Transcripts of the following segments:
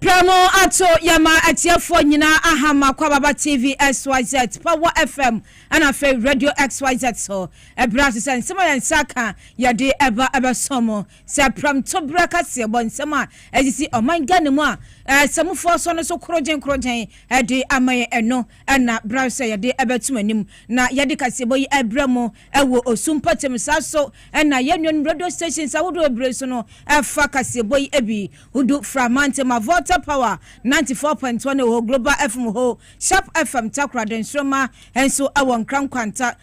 Prɛmo ato yɛma atiefoɔ nyinaa ahama kwababa tv xyz power fm ɛna afei radio xyz so ɛberɛ a sɛ nsɛm a yɛn nsa ka yɛde ɛba ɛbɛsɔ mo Sɛ prɛmtoberɛ kaseɛbɔ nsɛm a ɛsisi ɔman Ghana mu a asamufoɔ asɔ no so korogyen korogyen de ama yɛn ɛno na bra sɛ yɛde bɛtom anim na yɛde kaseɛbɔ yi abrɛ mo wɔ osu mpɔtam saa so na yɛn nuanom radio stations ahodoɔ bebree so no fa kaseɛbɔ yi bi hodo fra mantam a Volta Power 94.1 wɔ hɔ Global FM wɔ hɔ Sharp FM Takoradi Nsoromma nso wɔ Nkran Nkwanta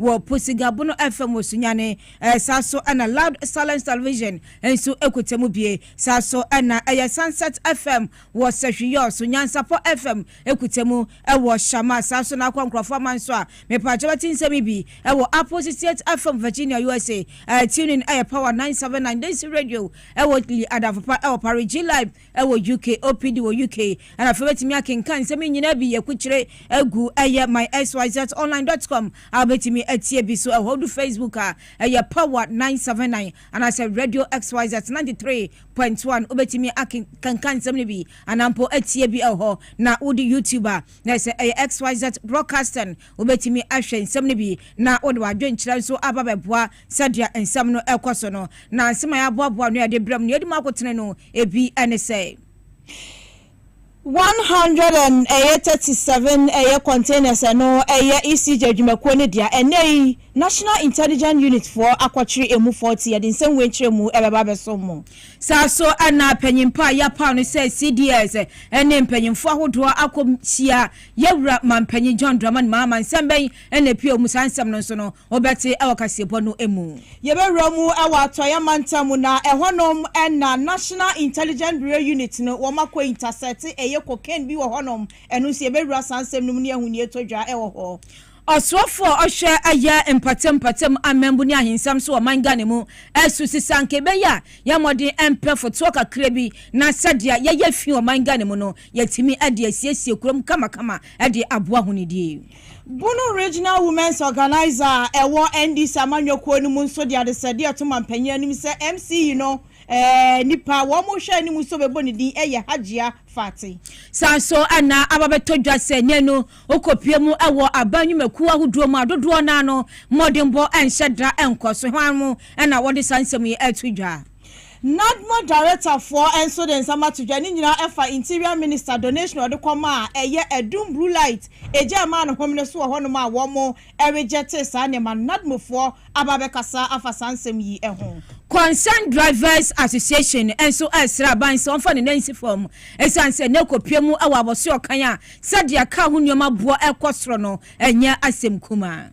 Wɔ Po Sigabo no fam wɔ Sunyani. Saa so na Loud Silence Television nso kuta mu bi. Saa so na ɛyɛ Sunset FM wɔ Sɛhwiyɔs. Nyansapɔ FM kuta mu wɔ Shama. Saa so na akɔ nkurɔfo ama nso a mepaakyɛw bɛte nsɛm yi bi wɔ Apple sixty eight FM Virginia USA. Tune in yɛ Power nine seven nine Density Radio wɔ Lee Adamfopa wɔ Paris. G-Live. wɔ UK, OPD wɔ UK, ɛna afei wobɛtumi akenkan nsɛm yi nyinaa bi yɛkukyire agu ɛyɛ myxyzonline.com a wobɛtumi atie bi so ɛhɔ du Facebook a ɛyɛ Power 979 anaasɛ Radio XYZ 93.1 wobɛtumi akenkan nsɛm no bi anaa mpo atie bi ɛhɔ na wode YouTube a na ɛsɛ ɛyɛ XYZ Broadcasting wobɛtumi ahwɛ nsɛm no bi na wode w'adwenkyerɛ nso aba bɛboa Sɛdeɛ nsɛm no rekɔ so no, na nsɛm a yɛaboaboa ano a yɛde brɛ mo no, yɛde mu akotene no, ebi ne sɛ. One hundred and ɛyɛ thirty seven ɛyɛ containers a ɛno ɛyɛ ECJ adwumakuo no dea. Ɛnnɛ yi, National Intelligence Unit foɔ akɔkyere emu forty, yɛde nsɛm wei nkyerɛmu ɛbɛba abɛsom mo. Saa ara so na panin pa a yɛapaw no sɛ CDS ne mpanyimfoɔ ahodoɔ akɔhyia Yɛwura Mampanyin John Dramani Mahama. Nsɛm bɛn na ɛpue wɔ mu? Saa nsɛm no nso no, Wɔbɛte wɔ kaseɛbɔ no mu. Yɛbɛwura mu wɔ Atɔeɛ mantam mu na ɛhɔ nom na National Intelligence Bureau Unit no wɔn akɔ intasɛte ɛyɛ cocaine bi wɔ hɔ nom, ɛno nso yɛbɛwura saa nsɛm no mu ne ahu nea ɛtɔ dwa wɔ hɔ. Ɔsoafoɔ a ɔhwɛ ɛyɛ mpɔtam mpɔtam amambu ne ahensɛm so wɔ ɔman Ghana mu ɛsu se sɛ anka ɛbɛyɛ a yɛn mmɔden ɛmpɛ fotoɔ kakra bi na sɛdeɛ yɛyɛ fi wɔ ɔman Ghana mu no yɛtumi de asiesie kurom kamakama de aboa ahonidie Bono Regional Women's Organiser a ɛwɔ NDC amanyɔ kuo no mu nso de adesrɛdeɛ reto mampanyin anim sɛ MCE no nipa a wɔrehwɛ anim nso bɛbɔ ne din yɛ Hajia Fati. Saa nso na aba bɛtɔ dwa sɛ nnɛ no wokɔpue mu wɔ aban nnwumakuo ahodoɔ mu a dodoɔ no ara no mmɔdenbɔ nhyɛ da nkɔ so. Hwan mo na wɔde saa nsɛm yi reto dwa? NADMO darektafoɔ nso de nsɛm ato dwa, ne nyinaa ɛfa Interior Minister donation a ɔde kɔma a ɛyɛ adum blue light egya ɛmaa no home no so wɔ hɔnom a wɔn regyɛte saa nneɛma no. NADMOfoɔ aba abɛkasa afa saa nsɛm yi ho. Concerned Drivers Association nso resrɛ aban sɛ wɔmfa ne nan nsi fam ɛsiane sɛ nnɛ kɔpue mu wɔ abɔsoɛ ɔkan a sɛdeɛ kaa ho nneɛma boɔ rekɔ soro no ɛnyɛ asɛm kumaa.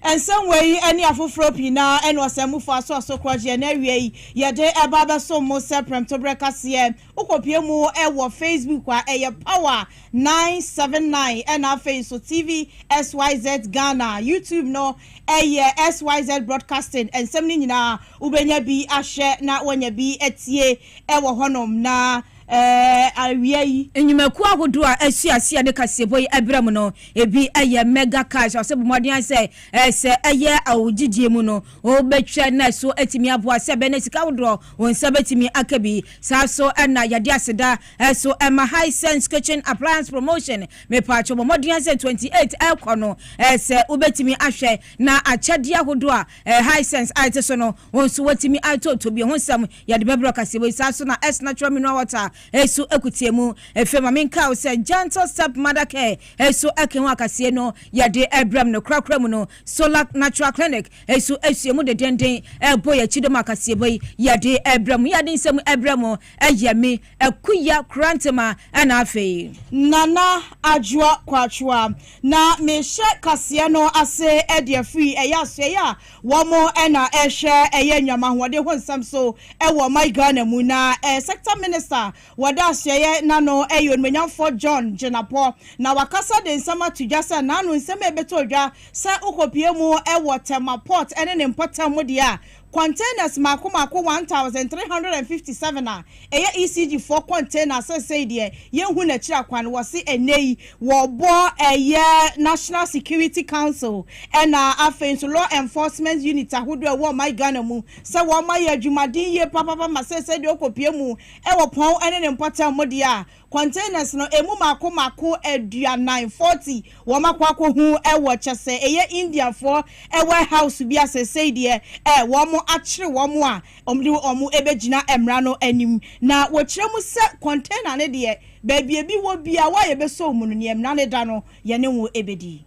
Nsɛmmoa yi ne afoforɔ pii no ara na ɔsɛmmufo asoa so korɔgyeɛ, na awiei yɛde ba abɛsom mo sɛ prɛmtoberɛ kaseɛ. Wokɔpue mu wɔ Facebook a, ɛyɛ Power 979, ɛnna afei nso TV SYZ Ghana. YouTube no yɛ SYZ Broadcasting. Nsɛm no nyinaa wobɛnya bi ahwɛ na woanya bi atie wɔ hɔnom, na awia yi. Nnwumakuo ahodoɔ a asu ase a ɛde kaseɛbɔ yi brɛ mo no, ebi yɛ Mega Cash, ɔsɛ bɔ mmɔden ara sɛ sɛ ɛyɛ wo gyedie mu no, wobɛtwa na ɛso atumi aboa, sɛ ɛbɛyɛ na sika ahodoɔ wo nsa bɛtumi aka bi. Saa so na yɛde aseda nso ma Hisense Kitchen Appliance Promotion, mepatwo bɔ mmɔden ara sɛ 28 ɛrekɔ no, sɛ wobɛtumi ahwɛ na akyɛdeɛ ahodoɔ a Hisense a ɛte so no, Wɔn nso wɔatumi atooto bio. Ho nsɛm, Yɛde bɛbrɛ ɔkaseɛ wei saa so na S Natural Mineral Water so akutie mu. Afei ma menkae wo sɛ Gentle Step Mother Care so ɛka ho akaseɛ no yɛde brɛm no korakora mu no. Solac Natural Clinic so sua mu dedenden bɔ yɛn akyi dom akaseɛbɔ yi yɛde brɛ mo. Yɛde nsɛm brɛ mo yɛ me, Akuya Korantema ɛna afei. Nana Adwoa Kwachoa na mehyɛ kaseɛ no ase de afiri ɛyɛ asoɛeɛ a Wɔn na ɛrehwɛ ɛyɛ nnuama ahoɔden ho nsɛm so wɔ ɔman Ghana mu na sector minister wɔda asoɛeɛ n'ano yɛ onimuonyamfoɔ John Jinapor na wakasa de nsɛm ato dwa sɛ n'ano nsɛm a ɛbɛtɔ odwa sɛ wokɔpue mu wɔ Tema port ne ne mpɔtam mu deɛ a containers mmaako mmaako one thousand three hundred and fifty seven a Ɛyɛ ECG foɔ container seesei deɛ yɛnhu n'akyira kwan wɔse ɛnnɛ yi wɔbɔ ɛyɛ National Security Council ɛna afei nso Law Enforcement Unit ahodoɔ ɛwɔ ɔman Ghana mu sɛ wɔn ayɛ adwumaden yie papapa ma seesei deɛ ɔkɔpue mu ɛwɔ pɔn ɛne ne mpɔtam mu deɛ a Containers no ɛmu mako mako aduanan, forty, wɔn akɔ akɔhu wɔ kyɛsɛ ɛyɛ India foɔ ware house bi a seesei deɛ ɛ wɔn akyere wɔn a wɔn de wɔn ɛbɛgyina mmra no anim na wɔkyerɛ mu sɛ container no deɛ baabi ɛbi wɔ biara wo a yɛbɛsɔ wo mu no neɛ mmra no da no yɛne wo ɛbɛdi.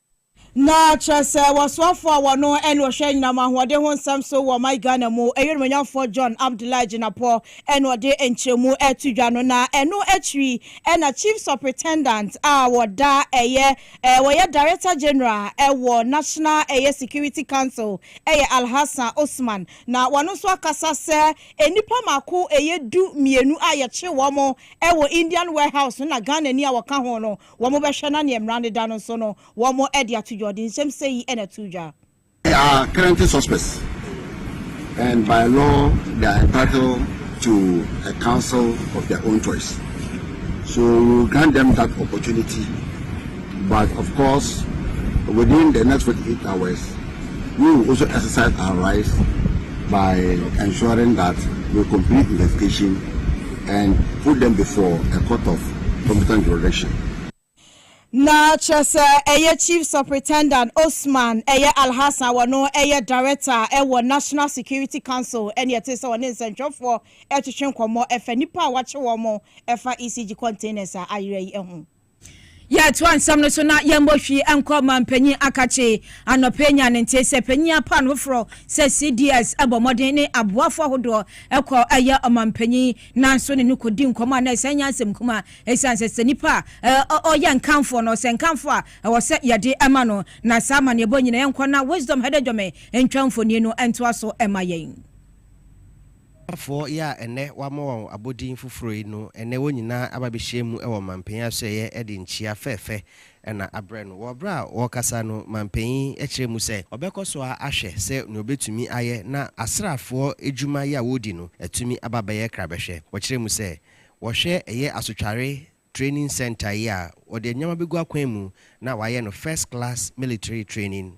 Na kyerɛ sɛ wɔsoafoɔ a wɔno ne ɔhwɛ anyinam ahoɔden ho nsɛm so wɔ ɔman Ghana mu, Ɛyɛ Onimuonyamfoɔ John Abdullahi Jinapɔ na ɔde nkyerɛmu to dwa no, na ɛno akyiri na Chief Supritendant a wɔda ɛyɛ wɔyɛ Director General wɔ National ɛyɛ Security Council ɛyɛ Alhassan Osman, na wɔno nso akasa sɛ nnipa mako ɛyɛ du mmienu a yɛkye wɔn wɔ Indian Warehouse no na Ghanani a wɔka ho no Wɔbɛhwɛ na nea mmara no da no nso no wɔde ato dwa. Ɔde nsɛm sɛɛ yi na ɛtoo dwa. are currently suspects and by law they are entitled to a counsel of their own choice so we will grant them that opportunity but of course within the next 48 hours We will also exercise our rights by ensuring that we complete investigation and put them before a court of competent jurisdiction. Na kyerɛ sɛ ɛyɛ Chief Supritendant Osman ɛyɛ Alhassan wɔno ɛyɛ Director ɛwɔ National Security Council ɛne ɛte sɛ ɔne nsɛntwerɛfoɔ ɛretwetwe nkɔmmɔ ɛfa nnipa a wɔakye wɔn ɛfa ECG containers a ayera yi ho. Yɛtoa nsɛm no so na yɛmmɔ hwii nkɔ ma mpanyin akakye. Anɔpa yi nyaa ne nte sɛ panyin apan foforɔ sɛ CDS bɔ mmɔden ne aboafo ahodoɔ kɔ yɛ ɔmampanyin nanso ne no kɔdi nkɔmmɔ a na ɛsan nya asɛm kumaa ɛsiane sɛ sɛ nipa a ɔyɛ nkamfoɔ no sɛ nkamfoɔ a ɛwɔ sɛ yɛde ma no na saa amanneɛbɔ nyina yɛnkɔ na Wisdom Hadejome ntwa mfonin no ntoa so ma yɛn. Ghanafoɔ yi a ɛnnɛ wɔama wɔn abɔdin foforɔ yi no, ɛnnɛ wɔn nyinaa aba abɛhyia mu wɔ Manpanin Asoɛeɛ de nkyia fɛɛfɛ na abrɛ no. Wɔ berɛ a wɔrekasa no, Manpanin kyerɛɛ mu sɛ ɔbɛkɔ so ara ahwɛ sɛ nea ɔbɛtumi ayɛ na asraafoɔ adwuma yi a wɔredi no atumi aba abɛyɛ krabɛhwɛ. Ɔkyerɛɛ mu sɛ wɔhwɛ ɛyɛ Asotware Training Centre yi a wɔde nneɛma bɛgu akwan mu na wɔayɛ no First Class Military Training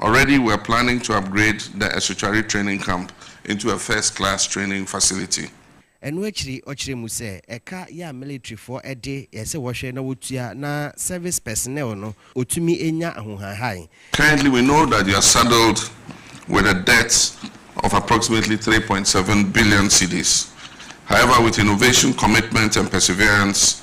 Already we're planning to upgrade the Asutware training camp into a first class training facility. Ɛno akyiri ɔkyerɛɛ mu sɛ ɛka yɛ a militarifoɔ de yɛ sɛ wɔhwɛ na wɔtua na service personnel no ɔtumi nya ahohahan. Currently we know that you are saddled with a debt of approximately three point seven billion cedis, however with innovation, commitment and perseverance,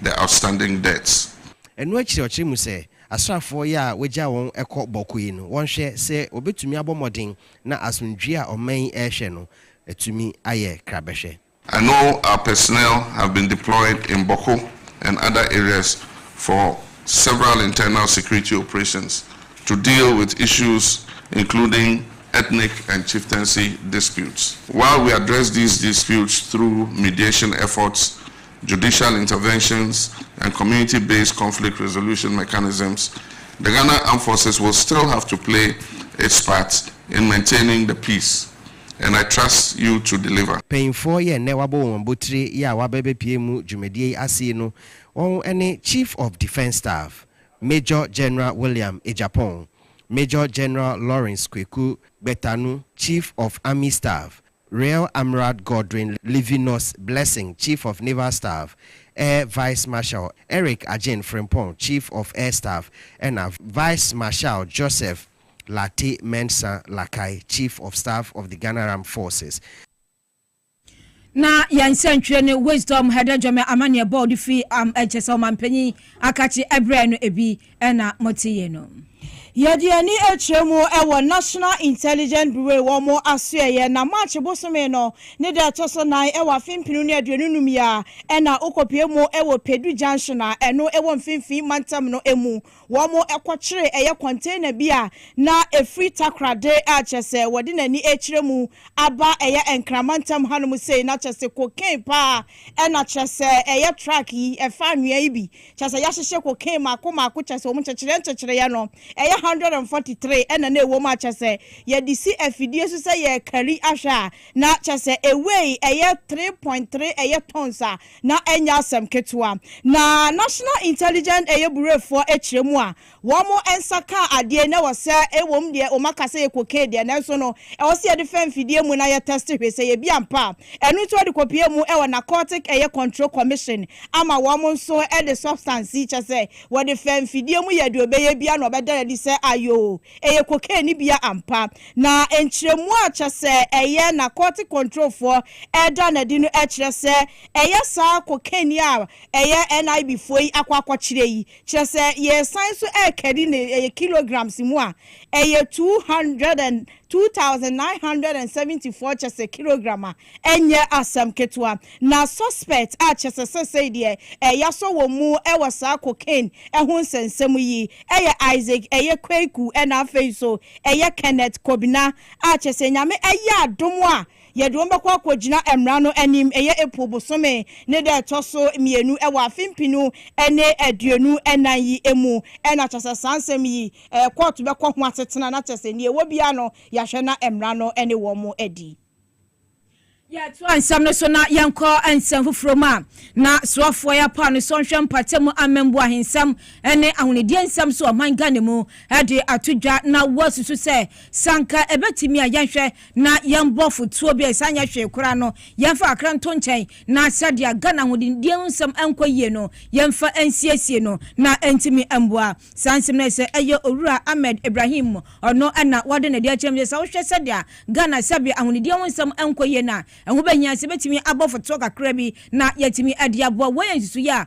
the outstanding debts. Ɛno akyiri ɔkyerɛ mu sɛ asraafoɔ yi a wɔagya wɔn kɔ Bɔko yi no wɔnhwɛ sɛ wɔbɛtumi abɔ mmɔden na asomdwoeɛ a ɔman yi rehwɛ no atumi ayɛ krabɛhwɛ. I know our personnel have been deployed in Bɔko and other areas for several internal security operations to deal with issues including ethnic and chieftaincy disputes. While we address these disputes through mediation efforts Judicial Interventions and Community Based Conflict Resolution Mechanisms, the Ghana Armed Forces will still have to play its part in maintaining the peace and I trust you to deliver. Panyinfoɔ yɛ nnɛ wabɔ wɔn abotire yɛ a wabɛbɛpue mu dwumadie yi ase yi no wɔn ne Chief of Defence Staff, Major General William Agyapong, Major General Lawrence Kweku Gbetanu, Chief of Army Staff, Rear Amrad Godwin Livinus Blessing, Chief of Naval Staff, Air Vice Marshal Eric Agyen Frimpong, Chief of Air Staff, ɛna Vice Marshal Joseph Lartey Mensah Lakai, Chief of Staff of the Ghana Armed Forces. Na yɛn nsɛntwerɛ ne Wisdom Hadejome amanneɛbɔ a ɔde firi am kyerɛ sɛ ɔmampanyin aka kye brɛɛ no bi. na mote yɛ no. Yɛde yɛn ani kyerɛ mu wɔ National Intelligence Bureau wɔn asoɛeɛ na March bosome no ne da ɛtɔ so nan wɔ afe mpenu ne aduonu num yi a na wokɔpue mu wɔ Pedu Junction a ɛno wɔ mfimfini mantam no mu. Wɔn kɔkyere ɛyɛ container bi a na ɛfiri Takorade a kyerɛ sɛ wɔde n'ani rekyerɛ mu aba ɛyɛ Nkran mantam hanom sei na kyerɛ sɛ cocaine paa na kyerɛ sɛ ɛyɛ truck yi ɛfa anwea yi bi Kyerɛ sɛ yɛahyehyɛ cocaine mako mako kyerɛ sɛ wɔn nkyekyereɛ nkyekyereɛ no ɛyɛ hundred and forty three ɛna na ɛwɔ mu a kyerɛ sɛ yɛde si afidie so sɛ yɛrekari ahwɛ a na kyerɛ sɛ ɛwei ɛyɛ three point three ɛyɛ tons a na ɛnyɛ asɛm ketewa na National Intelligence ɛyɛ bureaufoɔ kyerɛ mu a Wɔn nsa kaa adeɛ na ɛwɔ sɛ ɛwom deɛ wɔn aka sɛ yɛ cocaine deɛ nanso no ɛwɔ sɛ yɛde fa mfidie mu na yɛ test hwɛ sɛ yɛ bi ampa a ɛno nti wɔde kɔpue mu ɛwɔ Narcotic ɛyɛ Control Commission ama wɔn nso ɛde substance yi kyɛ sɛ wɔde fa mfidie mu yɛ deɛ ɔbɛyɛ bia na ɔbɛda no adi sɛ ayoo ɛyɛ cocaine no bia ampa na nkyerɛmu a kyɛ sɛ ɛyɛ Narcotic Control foɔ ɛda no adi no ɛkyerɛ sɛ ɛyɛ saa cocaine yi a ɛyɛ NIB foɔ yi akɔ akɔkyerɛ yi Kyerɛ sɛ yɛresan so rekari no yɛ kilograms mu a, ɛyɛ two hundred and, two thousand nine hundred and seventy four kyɛsɛ kilogram a, ɛnyɛ asɛm ketewa. Na suspect a kyɛsɛ sɛsɛi deɛ yɛasɔ wɔn mu wɔ saa cocaine ho nsɛnsɛm yi yɛ Isaac ɛyɛ Kweku ɛna afei nso ɛyɛ Kenneth Kobina a kyɛsɛ Nyame ayɛ adom a Yɛde wɔn bɛkɔ akɔgyina Mmara no anim, ɛyɛ April bosome ne da a ɛtɔ so mmienu wɔ afe mpenu ne aduonu nnan yi mu, na kyerɛ sɛ saa nsɛm yi, kɔɔto bɛkɔ ho asetena, na kyerɛ sɛ nea ɛwɔ biara no, yɛahwɛ na Mmara no ne wɔn adi. Yɛtoa nsɛm no so na yɛnkɔ nsɛm foforɔ mu a, na soafoɔ yi apaw ne sɔnhwɛ mpata mu amambu ahensɛm ne ahonidie nsɛm so ɔman Ghana mu de ato dwa na wasusu sɛ, sɛ anka ɛbɛtumi a, yɛnhwɛ na yɛmbɔ afotuo bi a ɛsan nyɛ hwee koraa no, yɛmfa kakra nto nkyɛn, na sɛdeɛ Ghana ahonindeɛ ho nsɛm nkɔ yie no, yɛmfa nsiesie no na ɛntumi mmoa. Saa nsɛm no ayɛ sɛ ɛyɛ Owura Ahmed Ibrahim, ɔno na wɔde no adi akyerɛ mu sɛ, sɛ wohwɛ sɛdeɛ Ghana sɛbe ahonindeɛ ho nsɛm nkɔ yie no a, ɛho bɛhia sɛ yɛbɛtumi abɔ afotuo kakra bi na yɛatumi de aboa. Wei yɛ nsusuiɛ a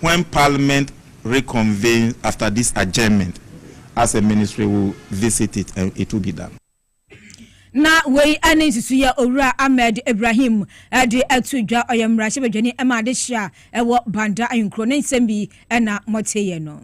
When Parliament reconvenes after this adjournment, as a Ministry we will visit it and it will be done. Na wei ne nsusuiɛ a Owura Ahmed Ibrahim de ato dwa. Ɔyɛ mmarahyɛbadwani ma adehye a ɛwɔ Banda ahenkuro. Ne nsɛm bi na moteeɛ no.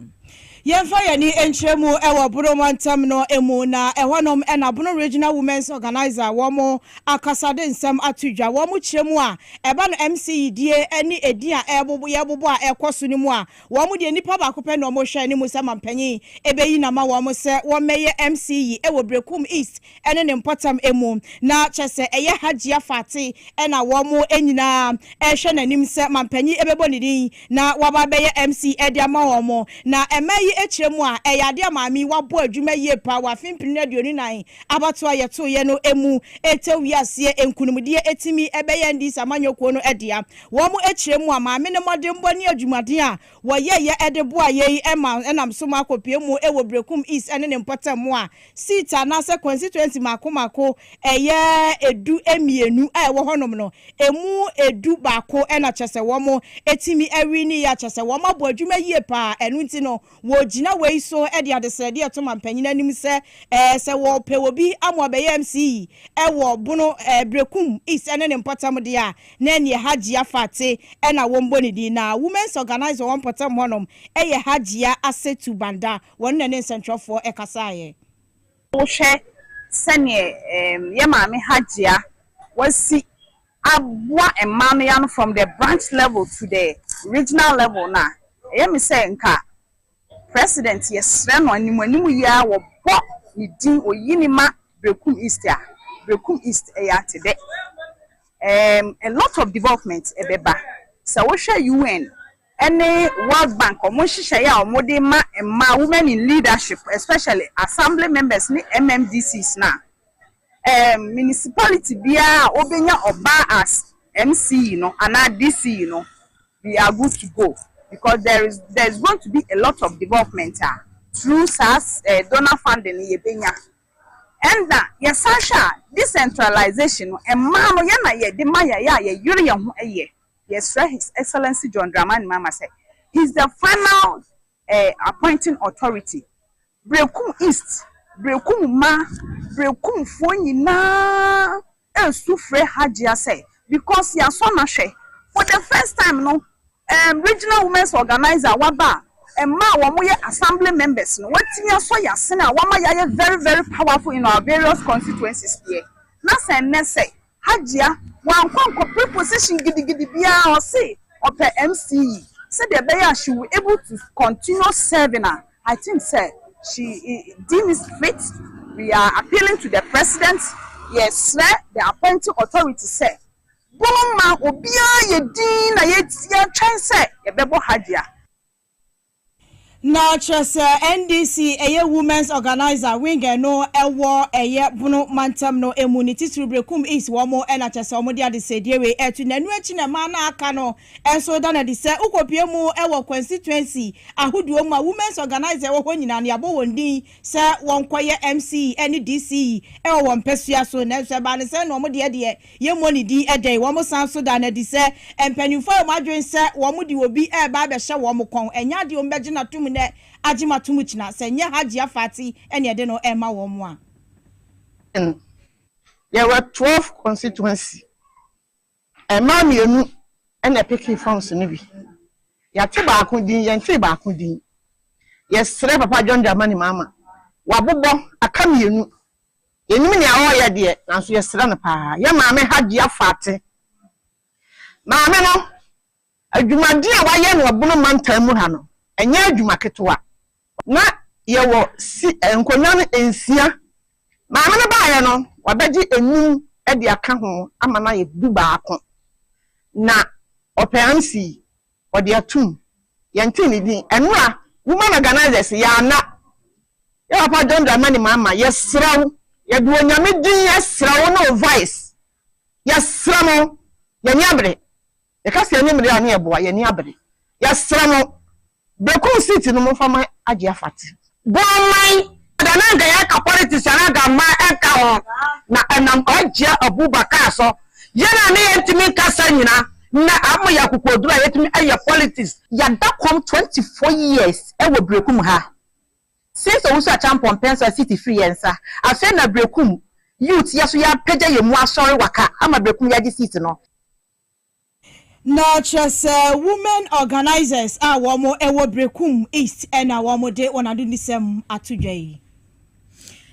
Yɛmfa yɛn ani nkyerɛ mu wɔ Bono mantam no mu na ɛhɔnom na Bono Regional Women's Organiser wɔn akasade nsɛm ato dwa. Wɔn kyerɛ mu a ɛba no MC yidie ne edin a ɛrebobo yɛrebobɔ a ɛrekɔ so no mu a wɔn deɛ nipa baako pɛ na wɔhwɛ anim sɛ mampanyin bɛyi no ama wɔn sɛ wɔmmɛyɛ MC yi wɔ Berekum East ɛne ne mpɔtam mu, na kyerɛ sɛ ɛyɛ Hajia Fati na wɔn nyinaa rehwɛ n'anim sɛ mampanyin ɛbɛbɔ ne din na waba abɛyɛ MC de ama wɔn. Na mmaa yi kyerɛ mu a, ɛyɛ adeɛ a maame yi wabɔ adwuma yie paa wɔ afe mpenu ne aduonu nnan abatoɔ a yɛtoeɛ no mu tɛw wii aseɛ nkunimdie tumi bɛyɛɛ NDC amanyɔkuo no dea. Wɔn kyerɛ mu a, maame no mmɔdenbɔ ne adwumaden a wɔyɛeɛ de boa yei ma ɛnam so ma akɔpue mu wɔ Berekum East ne ne mpɔtam mu a seat anaasɛ constituency mmaako mmaako ɛyɛ du mmienu a ɛwɔ hɔnom no, ɛmu du baako na kyerɛ sɛ wɔatumi awinie a kyerɛ sɛ wɔabɔ adwuma yie pa ara. Ɛno nti no, wɔgyina wei so de adesrɛdeɛ reto mampanyin anim sɛ sɛ wɔpɛ obi ama wabɛyɛ MC wɔ Bono, Berekum East ne ne mpɔtam deɛ a, Na ɛneɛ Hajia Fatteh na wɔn bɔ ne din na Women's Organiser wɔ mpɔtam hɔ nom yɛ Hajia Asetu Banda, wɔn na ne nsɛntwerɛfoɔ kasaeɛ. Wo hwɛ sɛneɛ yɛ maame Hajia Wasi aboa mmaa no yɛ ano from the branch level to the regional level no a, ɛyɛ me sɛ nka. President yɛsrɛ no anim anim yi ara wɔ bɔ ne din oyi ne ma Berekum East a Berekum East ɛyɛ atedɛ ɛɛm a lot of development ɛbɛba sɛ wo hwɛ UN ɛne World Bank ɔmo nhyehyɛeɛ a ɔmo de ma mmaa women in leadership especially assembly members ne MMDCs no a ɛɛm municipality biara a ɔbɛnya ɔbaa as MC no anaa DC no. we are good to go because there is there is going to be a lot of development a through saa eh donor funding no yɛbɛnya. Ɛnna yɛsan hwɛ a, decentralization no, mmaa no, yɛn na yɛde ma yɛn, yɛ a yɛyere yɛn ho yɛ. Yɛsrɛ His Excellency John Dramani Mahama sɛ, he is the final eh appointing authority Berekum East, Berekum mma, Berekumfoɔ nyinaa resu frɛ Hajia sɛ because yɛasɔ no ahwɛ. For the first time no, um Regional Women's Organiser a waba a mma a wɔyɛ Assembly members no wɔatumi asɔ yɛn asene a wɔama yɛayɛ very very powerful in our various constituencies deɛ, na sɛ nnɛ sɛ Hajia wankɔ nkɔpɛ position gidigidi biara, ɔse ɔpɛ MCE sɛdeɛ ɛbɛyɛ a she will able to continue serving a I think sɛ she deem it fit, we are appealing to the president, yɛsrɛ the appointing authority sɛ wɔmma obiara yɛ din na yɛtwɛn sɛ yɛbɛbɔ Hajia. Na kyerɛ sɛ NDC ɛyɛ Women's Organiser wing ɛno ɛwɔ ɛyɛ Bono mantam no ɛmu ne titiriw Berekum East wɔn ɛna kyerɛ sɛ wɔn de adesɛdie wei ɛto na ɛno akyi na mmaa no a aka no nso da no adi sɛ wo kɔ pue mu ɛwɔ constituency ahodoɔ mu a Women's Organiser ɛwɔ hɔ nyinaa no yabɔ wɔn din sɛ wɔn kɔ yɛ MCE ɛne DCE ɛwɔ wɔn mpɛsua so nanso ɛbaa no sɛ na wɔn deɛ deɛ Yɛmmɔ ne din dɛn? Wɔsan nso daa no adi sɛ mpanimfoɔ a wɔn adwene sɛ wɔde obi reba abɛhyɛ wɔn kɔn, ɛnyɛ adeɛ a wɔbɛgye no atom nnɛ agye no atom kyena, sɛ ɛnyɛ Hajia Fati na ɛde no rema wɔn a. Yen yɛwɔ 12 constituency, mmaa mmienu na ɛpekee forms no bi. Yɛate baako din, yɛntee baako din. Yɛsrɛ Papa John Dramani Mahama, wabobɔ, aka mmienu, Yɛnim nea ɔreyɛ deɛ, nanso yɛsrɛ no paa. Yɛn maame Hajiya Fati. Maame no, adwumaden a wayɛ no wɔ Bono mantam mu ha no, ɛnyɛ adwuma ketewa. Ná yɛwɔ si nkonnwa no nsia. Maame no baeɛ no, wabɛgye nnum de aka ho ama no ayɛ dubaako. Na ɔpɛ ansi Wɔde atum. Yɛntee ne din. Ɛno a, woman organisers, yɛ ana? Yɛ papa John Dramani Mahama, yɛsrɛ wo, yɛde Onyame din srɛ wo ne wo vice, yɛsrɛ mo, yɛn ani abere. Yɛka sɛ yɛn ani mmere a ne yɛboa, yɛn ani abere. Yɛsrɛ mo, Bekum seat no momfa ma Agyeɛ Fati. Bɔɔman da na nka yɛka politics anaa gammaa ɛnka ho na ɛnam Hajia Abubakar so yɛn a na yɛntumi nka saa nyina nnɛ ama yɛ akokoɔduro a yɛtumi ɛyɛ politics. Yɛada kɔm 24 years wɔ Berekum ha since Owusu Acheampong Mpensa seat firi yɛn nsa afei na Berekum youth yɛso yɛapagya yɛn mu asɔre waka ama Berekum yɛagye seat no. Na kyerɛ sɛ women organisers a wɔn wɔ Berekum East na wɔn de wɔn adonisɛm ato dwa yi.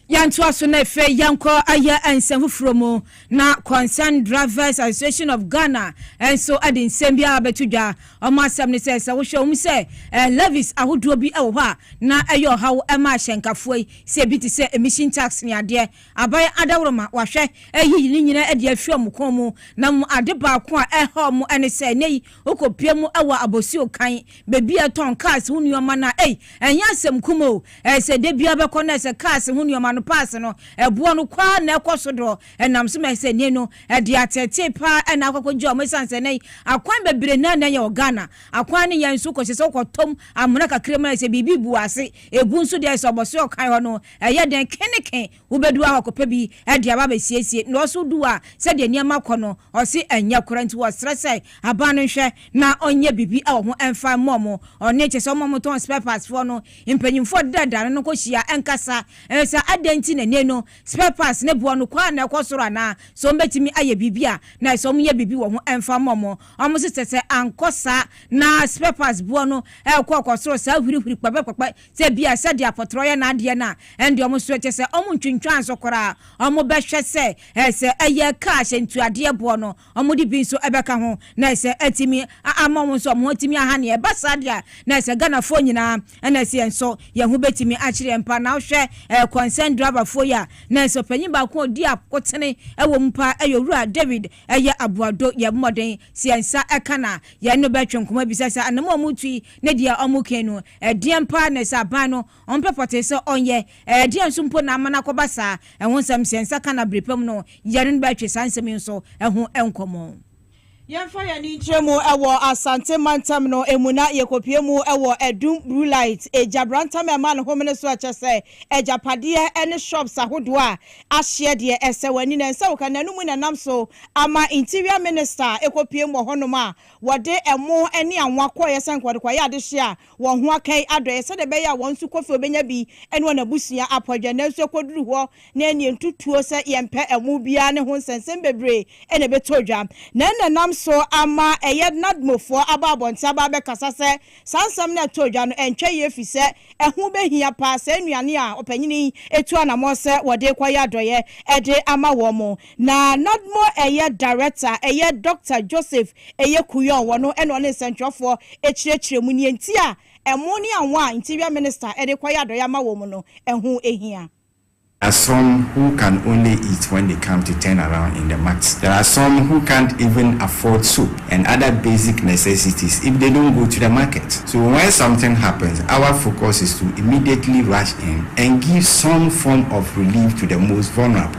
Yɛntoa so na afei yɛnkɔ ayɛ nsɛm foforɔ mu na Concerned Drivers Association of Ghana nso de nsɛm bi abɛto dwa. Wɔn asɛm ne sɛ, sɛ wohwɛ wɔn mu sɛ levies ahodoɔ bi wɔ hɔ a na ɛyɛ ɔhaw ma ahyɛnkafoɔ yi, sɛ bi te sɛ emission tax ne adeɛ. Aban adaworoma wɔahwɛ ayiyi ne nyinaa adi afi wɔn kɔn mu, na mmom ade baako a ɛrehaw wɔn ne sɛ nnɛyi wokopue mu wɔ abɔsuo kann, baabi a ɛtɔn cars ho nnoɔma no a ei, ɛnyɛ asɛm kumaa o, ɛyɛ sɛ da biara bɛkɔ no ɛyɛ sɛ cars ho nnoɔma no paase no ɛboɔ no kɔ ara na ɛkɔ so dorɔ ɛnam so ma ɛyɛ sɛ nnɛyi no ɛde ateetee pa ara na akɔkɔgye wɔn ɛsiane sɛ nnɛyi akwan bebree na na ɛyɛ wɔ Ghana, akwan no yɛ nso kɔsi sɛ wokɔtɔm amena kakra mu na ɛyɛ sɛ biribi bu ase, ɛgu nso deɛ ɛyɛ sɛ ɔbɔsoɔ kann hɔ no Ɛyɛ den keneke wobɛdu hɔ akɔpɛ bi de aba abɛsiesie, na ɔso du hɔ a, sɛdeɛ nneɛma kɔ no, ɔse ɛnyɛ korɛ, nti wɔsrɛ sɛ aban no nhwɛ na ɔnyɛ biribi wɔ ho mfa mmɔ mo ɔne, kyerɛ sɛ wɔn a wɔtɔn spare parts foɔ no, mpanyinfoɔ dedaadaano no nkɔhyia nkasa sɛ adɛn nti na nnɛ no spare parts ne boɔ no kɔ ara na ɛkɔ soro anaa, sɛ wɔbɛtumi ayɛ biribi a, na ɛsɛ wɔyɛ biribi wɔ ho mfa mmɔ mo, wɔn nso sɛ sɛ ankɔ saa na spare parts boɔ no rekɔ rekɔsoro saa hwirihwiri kpɛpɛkpɛpɛ Sɛ ebia sɛ deɛ apɔtorɔ yɛ n'adeɛ no a, ɛnde wɔn nso ɛkyɛ sɛ wɔntwintwan so koraa. Wɔbɛhwɛ sɛ sɛ ɛyɛ kaa hyɛntuadeɛ boɔ no, wɔde bi nso bɛka ho na ɛsɛ atumi ama wɔn nso wɔn ho atumi aha neɛ. Ɛba saa deɛ a, na ɛsɛ Ghanafoɔ nyinaa na ɛsɛ yɛn nso yɛn ho bɛtumi akyere yɛn paa. Na wohwɛ kɔnsɛn drabafoɔ yi a, na ɛsɛ ɔpanyin baako a ɔdi akotene wɔ mu paa ɛyɛ Owura David ɛyɛ Aboado. Yɛbɔ mmɔden sɛ yɛn nsa ka no a, yɛne no bɛtwe nkɔmmɔ abisa sɛ anamɔ a wɔretu yi, Ne deɛ ɔmo kɛn no, ɛdeɛn paa na ɛsɛ aban no ɔmpɛ pɔtee sɛ ɔnyɛ? Ɛdeɛn nso mpo na ama no akɔba saa? Ɛho nsɛm sɛ nsa ka na bere pa mu no yɛne no bɛtwe saa nsɛm yi nso ho nkɔmmɔ. Yɛmfa yɛn ani nkyerɛ mu wɔ Asante mantam no mu na yɛkɔpue mu wɔ Adum Bruu Lait Egyabrantam a ɛmaa no homene so a kyerɛ sɛ agyapadeɛ ne shops ahodoɔ a ahyeɛ deɛ ɛsɛ w'ani na ɛnsɛ wo ka. N'anum na ɛnam so ama Interior Minister kɔpuem wɔ hɔnom a Wɔde ɛmo ne anwa kɔeɛ sɛnka wɔde kɔayɛ adehyeɛ a wɔn ho aka yi adɔeɛ sɛdeɛ ɛbɛyɛ a wɔn nso Kofi ɔbɛnya bi ne wɔn abusua apɔ adwa nanso ɛkɔduru hɔ na ɛnneɛ ntutuo sɛ yɛmpɛ ɛmo biara ne ho nsɛnsɛm bebree na ɛbɛtɔ dwa na ɛnna ɛnam so ama ɛyɛ Nadmofoɔ aba abɔnten aba abɛkasa sɛ saa nsɛm no a ɛtɔɔ dwa no ɛntwa yie ɛfirisɛ ɛho bɛhia paa saa nnuane a ɔpanyini yi tu anamɔ sɛ wɔde rekɔayɛ adɔeɛ de ama wɔn Na nadmo ɛyɛ Director a ɛyɛ Doctor Joseph ɛyɛ Kuyong wɔ no ɛna ɔne nsɛntwerɛfoɔ ɛkyerɛkyerɛ mu neɛ nti a ɛmo ne awon a Interior Minister ɛde kɔyɛ adɔeɛ ama wɔ mu no ɛho ɛhia. There are some who can only eat when they come to turn around in the mat. There are some who can't even afford soap and other basic necessities if they don't go to the market. So when something happens our focus is to immediately rush in and give some form of relief to the most vulnerable.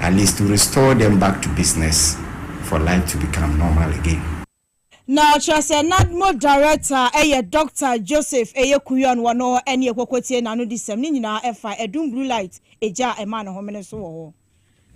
At least to restore them back to business for life to become normal again. Na ɔkyerɛ sɛ Nadmo Director a ɛyɛ Doctor Joseph Eyekwuyon wɔ no ne Ekpoko tie n'anodisɛm no nyinaa ɛfa adum blue light egya a ɛma no homene so wɔ hɔ.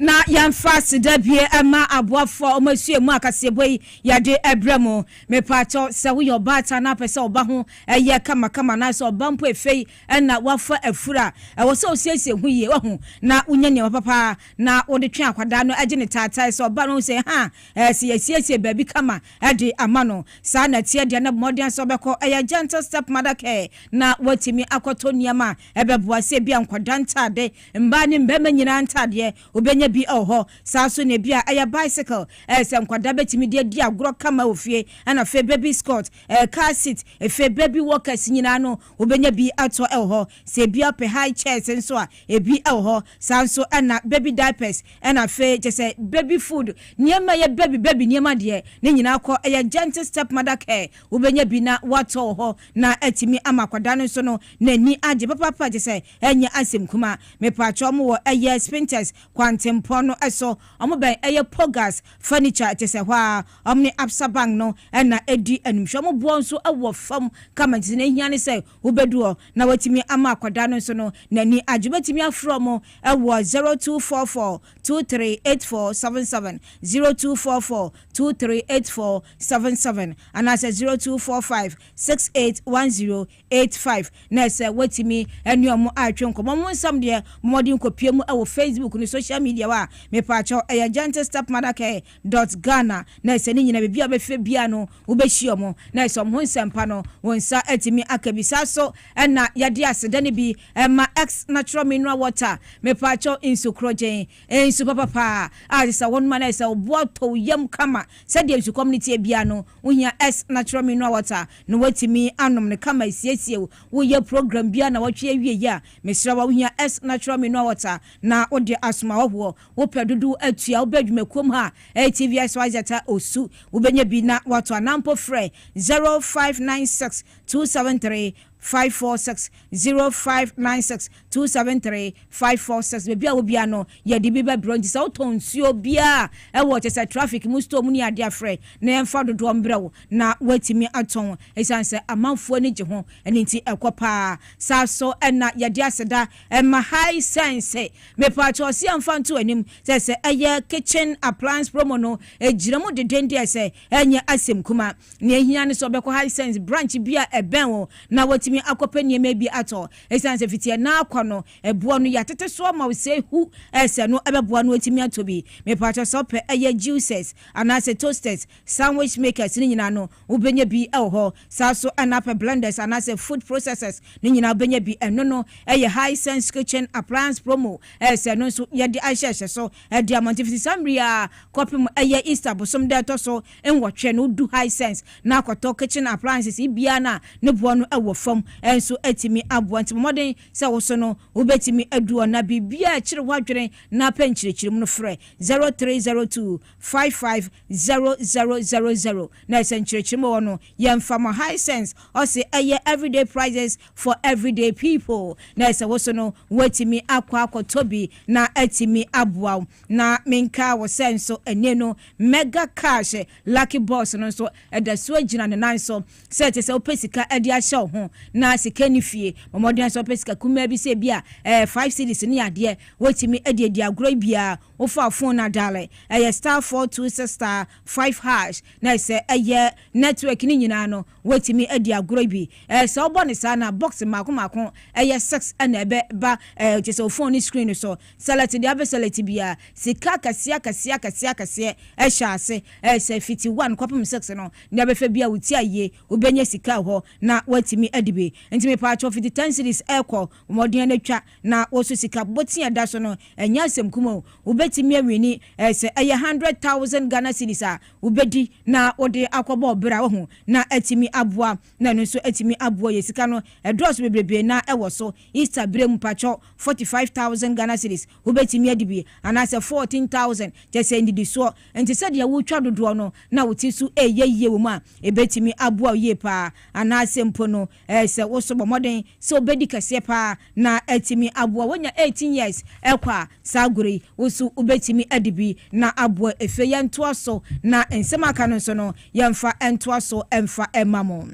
Na yɛmfa aseda bue ɛma aboafoɔ a wɔn asua mu a kaseɛbɔ yi yɛde ɛbrɛ mo. Mepaakyɛw sɛ woyɛ ɔbaatan na apɛ sɛ ɔba ho ɛyɛ kamakama anaasɛ ɔba mpo efei Ɛnna wafa afuru a ɛwɔ sɛ osiesie ho yie, wahu, na wonya nneɛma papa a na wode twe akwadaa no agye ne taatae sɛ ɔbaa no ahu sɛ, Haa, ɛɛ, sɛ yɛasiesie baabi kama de ama no. Saa na ɛteɛ deɛ na bɔ mmɔden sɛ wobɛkɔ, ɛyɛ gentle stepmother care, na woatumi akɔtɔ nneɛma a ɛbɛboa, sɛ ebia nkwadaa ntade, mmaa ne mmarima nyinaa ntadeɛ, wobɛnya bi wɔ hɔ. Saa nso na ebia ɛyɛ bicycle, ɛɛ, sɛ nkwadaa bɛtumi de adi agorɔ kama wɔ fie, ɛnna afei baby scot, ɛɛ, car seat, afei baby walkers nyinaa no, Wobɛnya bi atɔ wɔ hɔ. Sɛ ebi apɛ high chairs nso a, ebi wɔ hɔ. Saa nso na baby diapers, ɛna afei kyerɛ sɛ baby food, nneɛma a ɛyɛ baby baby nneɛma deɛ, ne nyinaa kɔ. Ɛyɛ gentle stepmother care. Wobɛnya bi na woatɔ wɔ hɔ na atumi ama akwadaa no nso no n'ani agye papaapa kyerɛ sɛ ɛnyɛ asɛm kumaa. Mepakyɛw wɔwɔ ɛyɛ Spintex, Kwantempɔn no so. Wɔbɛn ɛyɛ Pogas Furniture ɛte sɛ hɔ ara. Wɔn ne Absa Bank no na ɛdi animhwɛ. Wɔn boɔ nso wɔ fam kama nti nea ɛhia ne sɛ wobɛdu hɔ na wɔatumi ama akwadaa no nso no n'ani agye. Wobɛtumi afrɛ wɔn wɔ zero two four four two three eight four seven seven, zero two four four two three eight four seven seven anaasɛ zero two four five six eight one zero Eight five, Na ɛsɛ woatumi ne wɔn atwe nkɔmmɔ. Mo nsɛm deɛ, bɔ mmɔden kɔpue mu wɔ Facebook ne social media hɔ a, mepaakyɛw, ɛyɛ gentlestepmothercare dot Ghana. Na ɛsɛ ne nyinaa, baabi a wobɛfrɛ biara no, wobɛhyia wɔn. Na ɛsɛ wɔn ho nsɛm pa no, wo nsa atumi aka bi. Saa nso na yɛde aseda no bi ma X Natural Mineral Water, mepaakyɛw, nsu korɔgyenn, nsu papa paa a ɛsɛ sɛ wonom a na ayɛ sɛ woboa tɔ wo yam kama. Sɛdeɛ nsukɔm no teɛ biara no, Wohia S na kyerɛ mineral water na woatumi anom no kama asiesie wo. Woyɛ program biara nnawɔtwe awieɛ a, mesrɛ wo a wohia S na kyerɛ mineral water na wode asom ahɔhoɔ. Wopɛ dodoɔ atua a, wobɛ adwumakuom ha a ɛyɛ TVSYZ a Osu. Wobɛnya bi na woatɔ anaa mpo frɛ 0596 273 Five four six zero five nine six two seven three five four six baabi a wobia no yɛde bi bɛbrɛ nti sɛ wotɔn nsuo biara ɛwɔ kyɛ sɛ traffic mu store mu ne adeɛ afrɛ na yɛmfa dodoɔ mbrɛ wo na woatumi atɔn ɛsiane sɛ amanfoɔ ani gye ho ɛno nti ɛkɔ paa saa so ɛna yɛde aseda ɛma Hisense mepaakyɛ ɔse yɛmfa nto anim sɛ sɛ ɛyɛ kitchen appliance promo no ɛgyina mu dedendeɛ sɛ Ɛnyɛ asɛm kumaa. Nea ehia ne sɛ wɔbɛkɔ Hisense branch bi a ɛbɛn wɔn na wɔatumi akɔpɛ nneɛma bi atɔ. Esiane sɛ fiti ɛnnɛ akɔ no, ɛboɔ no yɛatete so ama wo sɛ hu sɛ no ɛbɛboa na watumi atɔ bi. Mepakyɛ sɛ wopɛ ɛyɛ juicers anaasɛ toasters, sandwich makers no nyinaa no, wobɛnya bi wɔ hɔ. Saa ara nso na wopɛ blenders anaasɛ food processors no nyinaa wobɛnya bi. Ɛno no yɛ Hisense Kitchen Appliance Promo sɛ no nso yɛde ahyehyɛ so Ɛde mmɔnten fiti saa mmere yi ara kɔpem ɛyɛ Easter bosom da a ɛtɔ so nwɔtwe no, wodu Hisense na akɔtɔ kitchen appliances biara no a ne boɔ no wɔ fam nso atumi aboa. Nti bɔ mmɔden sɛ wo so no wobɛtumi adu hɔ na biribiara a ɛkyere w'adwene na pɛ nkyerɛkyerɛmu no frɛ 0302 55 0000 na sɛ nkyerɛkyerɛmu wɔ hɔ no yɛmfa ma Hisense ɔse ɛyɛ everyday prices for everyday people na sɛ wo so no woatumi akɔ akɔtɔ bi na atumi aboa wo. Na menkaa wo sɛ nso ɛnnɛ no Mega Cash Lucky Box no nso ɛda so agyina ne nan so sɛ te sɛ wopɛ sika de ahyɛ wo ho na sika nni fie, bɔ mmɔden ara sɛ wopɛ sika kumaa bi sɛ ebi a ɛyɛ five cedis ne adeɛ wotumi de adi agorɔ yi biara wofa wo phone no adale ɛyɛ star four two six star five hash na sɛ ɛyɛ network no nyinaa no Woatumi adi agorɔ bi. Ɛɛ, sɛ wobɔ no saa na box mmaako mmaako yɛ six na ɛbɛba, ɛɛ, kyerɛ sɛ wo phone no screen no so. Select deɛ wobɛ select biara. Sika akɛseɛ akɛseɛ akɛseɛ akɛseɛ hyɛ ase. Ɛɛ, sɛ fiti one kɔpem six no, deɛ wobɛfa biara wo ti ayie, wobɛnya sika wɔ hɔ na woatumi adi bi. Nti mepaakyɛw fiti ten cedis rekɔ, bɔ mmɔden ara twa na wo nso sika bɔ ti a ɛda so no, ɛnyɛ asɛm kuma o. Wobɛtumi awini, ɛɛ, sɛ ɛyɛ hundred thousand Ghana cedis a, wobɛdi na wode akɔbɔ ɔbra woahu na atumi aboa na ɛno nso atumi aboa yɛ sika no ɛdɔɔso bebrebee na ɛwɔ so Easter berɛ mu pakyɛw forty five thousand Ghana cedis wobɛtumi adi bi anaasɛ fourteen thousand kyɛ sɛ nnidisoɔ nti sɛdeɛ wotwa dodoɔ no na wote so ɛyɛ yie wɔ mu a ɛbɛtumi aboa wo yie paa anaasɛ mpo no Ɛyɛ sɛ wo nso bɔ mmɔden sɛ wobɛdi kɛseɛ pa ara na atumi aboa woanya 18 years ɛkɔ a, saa agorɔ yi wo nso wobɛtumi adi bi na aboa efie yɛntoa so na nsɛm a aka no nso no yɛmfa ntoa so mfa mma mo.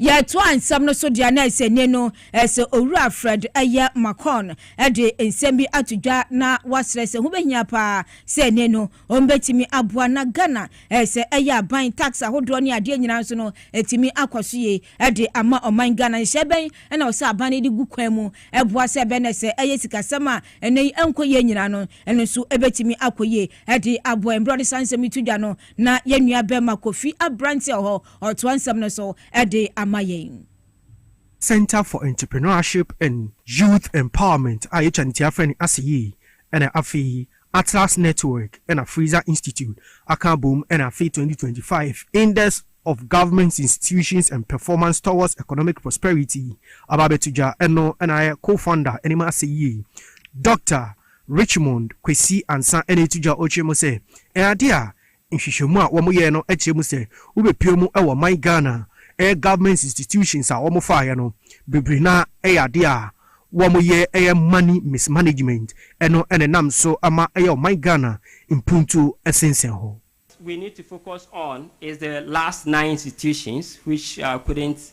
Yɛtoa nsɛm no so deɛ a na ɛsɛ nie no, ɛyɛ sɛ Owura Fred ɛyɛ Makon de nsɛm bi ato dwa na wasrɛ sɛ ho bɛhia pa ara sɛ nie no Wɔn bɛtumi aboa na Ghana eh sɛ ɛyɛ aban, tax ahodoɔ ne adeɛ nyinaa nso no ɛtumi akɔ so yie ɛde ama ɔman Ghana. Nhyɛ bɛn ɛna wɔ sɛ aban no de gu kwan mu ɛboa sɛ ɛbɛ na sɛ ɛyɛ sikasɛm a ɛnɛ yi ɛnkɔ yie nyinaa no ɛno nso ɛbɛtumi akɔ yie ɛde aboa yɛn. Berɛ ɔde saa nsɛm yi to dwa no na yɛn nua bɛma Kofi Abrante wɔ hɔ ɔtoa nsɛm no so ɛde ama yɛn. Centre for Entrepreneurship and Youth Empowerment a yɛtwa ne ti afrɛ no Aseyi ɛna afei Atlas Network na Fraser Institute aka abom na afei twenty twenty five Index of Government Institutions and Performance Towards Economic Prosperity aba abɛto dwa, ɛno na ayɛ co-founder anim asɛ yie Dɔkta Richmond Kwesi Ansah na ɛreto dwa ɔretwerɛ mu sɛ, Ɛyɛ adeɛ a Nhwehwɛmu a wɔyɛɛ no kyerɛ mu sɛ wobɛpue mu wɔ ɔman Ghana a ɛyɛ government institutions a wɔfaeɛ no bebree no ara ɛyɛ adeɛ a wɔyɛ ɛyɛ money mismanagement ɛno na ɛnam so ma ɛyɛ ɔman Ghana mpuntuo sensɛn hɔ. What we need to focus on is the last nine institutions which couldn't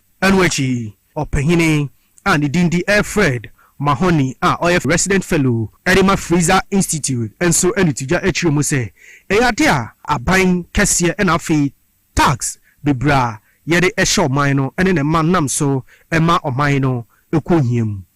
Ɛno akyi, ɔpanyin a ne din de Alfred Mahony a ɔyɛ Resident Fellow de ma Fraser Institute nso de to dwa kyerɛɛ mu sɛ, Ɛyɛ ade a aban kɛseɛ na afei tax bebree a yɛde hyɛ ɔman no ne ne mma nam so ma ɔman no kɔ ohia mu.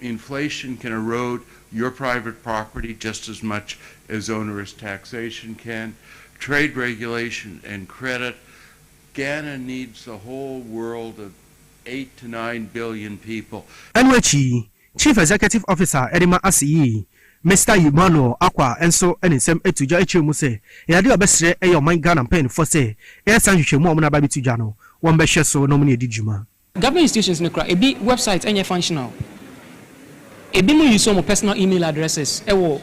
Inflation can erode your private property just as much as onerous taxation can. Trade regulation and credit, Ghana needs the whole world of eight to nine billion people. Ɛno akyi, Chief Executive Officer a ɛde ma ase yi, Mister Emmanuel Acquah nso de ne nsɛm to dwa kyerɛɛ mu sɛ ɛyɛ ade a ɔbɛsrɛ yɛ ɔman Ghana mpanyinfoɔ sɛ ɛyɛ saa nhwehwɛmu a wɔn aba abɛto dwa no, wɔmmɛhwɛ so na wɔn ne ɛdi dwuma. Government institutions no kora ebi website nyɛ functional. Ebinom use wɔn personal email addresses wɔ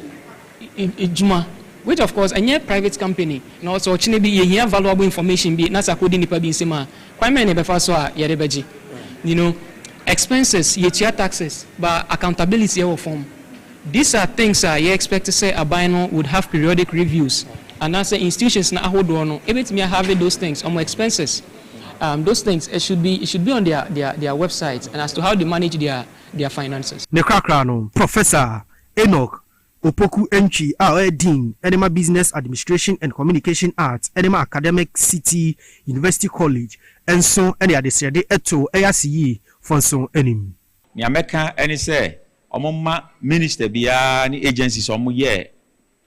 edwuma, which of course ɛnyɛ private company na ɔsɛ ɔkyena bi yɛhia valuable information bi na sɛ akɔdi nnipa bi nsam a kwan bɛn na yɛbɛfa so a yɛde bɛgye you know expenses, yɛtua taxes but accountability wɔ fam. These are things a yɛ expect sɛ aban no would have periodic reviews anaasɛ institutions no ahodoɔ no bɛtumi a have those things wɔn expenses. Um those things it should be it should be on their their their website and as to how they manage their their finances. Ne korakora no, Professor Enoch Opoku Antwi a ɔyɛ Dean de ma Business Administration and Communication Arts de ma Academic City University College nso de adesrɛde too ɛyɛ ase yi fo nso anim. Nea mɛka ne sɛ wɔmma minister biara ne agencies a wɔyɛ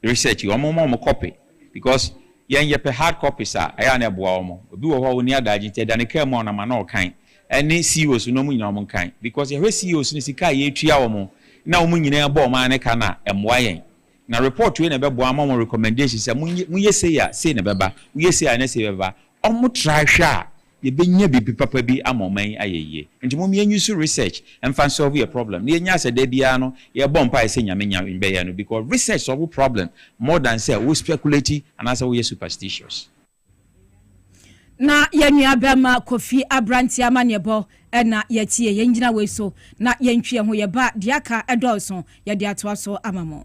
Research wɔn mma wɔn copy because yɛn yɛpɛ hard copies a ɛyɛ a na ɛboa wɔn. Obi wɔ hɔ a ɔnni adaagye nti ɛda ne kaa mu a ɔnam a na ɔkan. Ɛne CEOs no wɔn nyinaa wɔn nkan because yɛhwɛ CEOs no sika a yɛtua wɔn na wɔn nyinaa bɔ wɔn ara ne ka no a ɛmmoa yɛn. Na report wei na ɛbɛboa ama wɔn recommendation sɛ monyɛ sei a sei na ɛbɛba, woyɛ sei a na sei bɛba. Wɔtra hwɛ a yɛbɛnya biribi papa bi ama ɔman yi ayɛ yie. Nti mom yɛ use research mfa nsolve yɛ problem na yɛnya sɛ da biara no yɛbɔ mpaeɛ sɛ Nyame nya bɛyɛ no because research solve problem more than sɛ wo speculate anaasɛ woyɛ superstitious. Na yɛn nua bɛɛma Kofi abranteɛ amaneɛbɔ na yɛatie. Yɛn gyina wei so na yɛntwi yɛn ho yɛba deɛ aka ɛdɔɔso yɛde atoa so ama mo.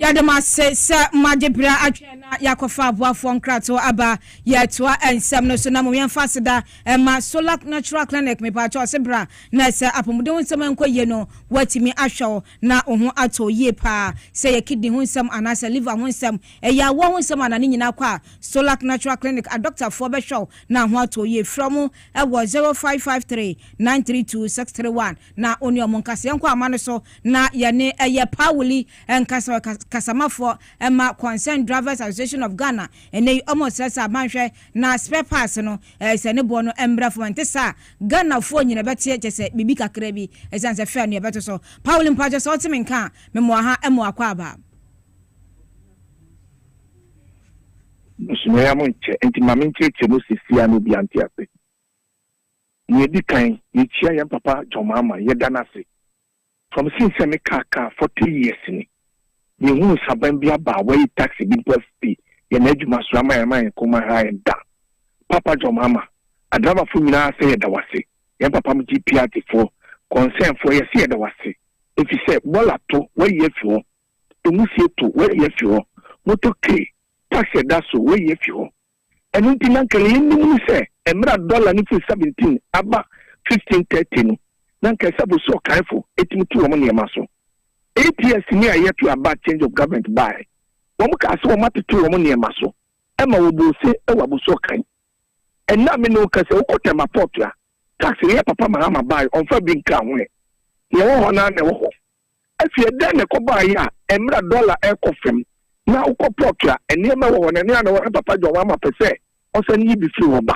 yɛde mo ase sɛ moagye berɛ atwɛn na yɛakɔfa aboafoɔ nkratoɔ aba yɛatoa nsɛm no so na mo yɛmfa aseda ɛma Solak Natural Clinic mepaakyɛ ɔse bra na sɛ apɔmuden ho nsɛm ɛnkɔ yie no wɔatumi ahwɛ wo na wo ho atɔ yie paa sɛ yɛ kidney ho nsɛm anaasɛ liver ho nsɛm Ɛyɛ awoɔ ho nsɛm anaa ne nyinaa kɔ a, Solac Natural Clinic adɔktafoɔ bɛhwɛ wo na ho atɔ yie. Frɛ wɔn wɔ zero five five three nine three two six three one na wo ne wɔn nkasa. Yɛnkɔ ama no so na yɛne ɛyɛ Pawuli nkasa, ɔyɛ kasamafoɔ ma Concerned Drivers Association of Ghana. Ɛnnɛ yi wɔresrɛ sɛ aban hwɛ na spare parts no sɛ ne boɔ no mmrɛ fam, ɛnte saa a Ghanafoɔ nyina bɛteɛ kyerɛ sɛ biribi kakra bi ɛsiane sɛ fare no yɛbɛto so. Pawuli mpakyɛ sɛ wote me nka a, mema wo aha mmoa kɔ aba. Busumɛ ya mo nkyɛ, enti ma menkyerɛkyerɛ mo sesia na obiara nte ase. Nea edi kan, yekyia yɛn papa John Mahama, yɛda no ase. From since sɛ mekaa kaa forty years ni, menhuu nsaban bi aba a wayi tax bi mpo afi yɛn adwuma so ama yɛn ama yɛn kɔn mu aha yɛn da. Papa John Mahama, adriverfoɔ nyinaa sɛ yɛda wo ase, yɛn papa mo GPRT foɔ, concern foɔ, yɛse yɛda wo ase, efisɛ bɔɔla to, wayi afi hɔ. Emu sie to wayi afi hɔ. Motorcade taxi a ɛda so wayi afi hɔ. Ɛno nti na anka nea yenim ne sɛ mmerɛ a dɔla no firi seventeen aba fifteen thirty no, na anka ɛsɛ sɛ abusua ɔkanfo tumi to wɔn nneɛma so. ATS ni a ɛyɛ to aba a change of government baeɛ, wɔn kaa sɛ wɔatete wɔn nneɛma so ma wɔbɔɔ ose wɔ abusua ɔkan. Ɛnnɛ a me ne wo rekasa yi, wokɔ Tema Port a, taxi no yɛ Papa Mahama baeɛ, ɔmfa bi nkaa ho ɛ. Nea ɛwɔ hɔ no ara na ɛwɔ hɔ. Afie, dɛn na ɛkɔbaeɛ a mmerɛ a dɔla rekɔ fam na wokɔ pɔt a nneɛma wɔ hɔ no ɛno ara na ɛwɔ hɔ na Papa John Wamma pɛ sɛ ɔsane yi bi firi hɔ ba?